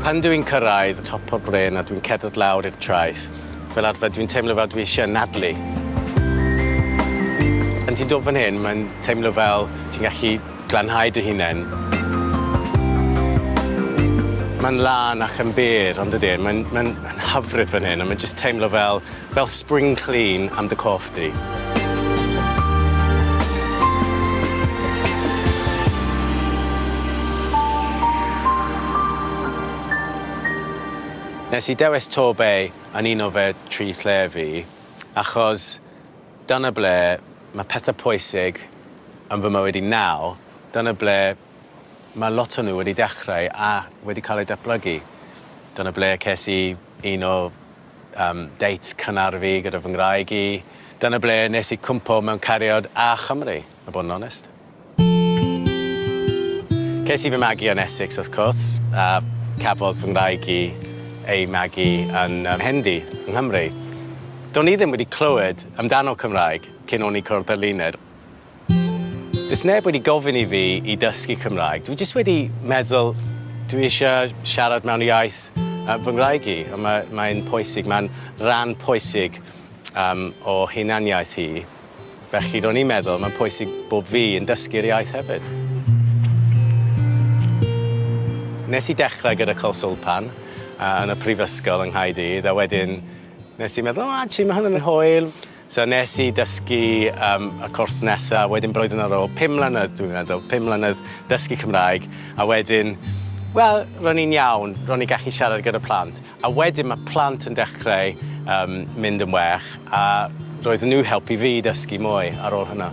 Pan dw i'n cyrraedd top o'r bryn a dwi'n cerdded lawr i'r traeth, fel arfer dwi'n teimlo fel dwi eisiau anadlu. Pan ti'n dod fan hyn, mae'n teimlo fel ti'n gallu glanhau dy hunain. Mae'n lân ac yn bur, on'd ydi e? Mae'n mae'n hyfryd fan hyn a mae'n jyst teimlo fel Fel spring clean am dy corff di. Nes i dewis Torbay yn un o fy tri lle fi achos dyna ble mae pethau pwysig yn fy mywyd i nawr, dyna ble mae lot o nhw wedi dechrau a wedi cael eu datblygu. Dyna ble ces i Un o yym dates cynnar fi gyda fy ngwraig i. Dyna ble nes i cwmpo mewn cariad â Chymru, a bod yn onest. Ces i fy magu yn Essex wrth cwrs, a cafodd fy ngwraig i ei magu yn Hendy, yng Nghymru. Do'n i ddim wedi clywed amdano Cymraeg cyn o'n i cwrdd â Luned. Does neb wedi gofyn i fi i dysgu Cymraeg, dwi jyst wedi meddwl dwi eisiau siarad mewn iaith yy fy ngwraig i, a ma' mae'n pwysig, mae'n ran pwysig yym o hunaniaeth hi, felly ro'n i'n meddwl mae'n pwysig bob fi yn dysgu'r iaith hefyd. Nes i dechrau gyda Colswlpan yy yn y prifysgol yng Nghaerdydd a wedyn nes i meddwl o actually ma' hwn yn hwyl. So nes i dysgu yym y cwrs nesa wedyn blwyddyn ar ôl pum mlynedd dwi'n meddwl, pum mlynedd dysgu Cymraeg a wedyn wel ro'n i'n iawn, ro'n i'n gallu siarad gyda plant a wedyn ma' plant yn dechrau yym mynd yn well a roedden nhw helpu fi i dysgu mwy ar ôl hwnna.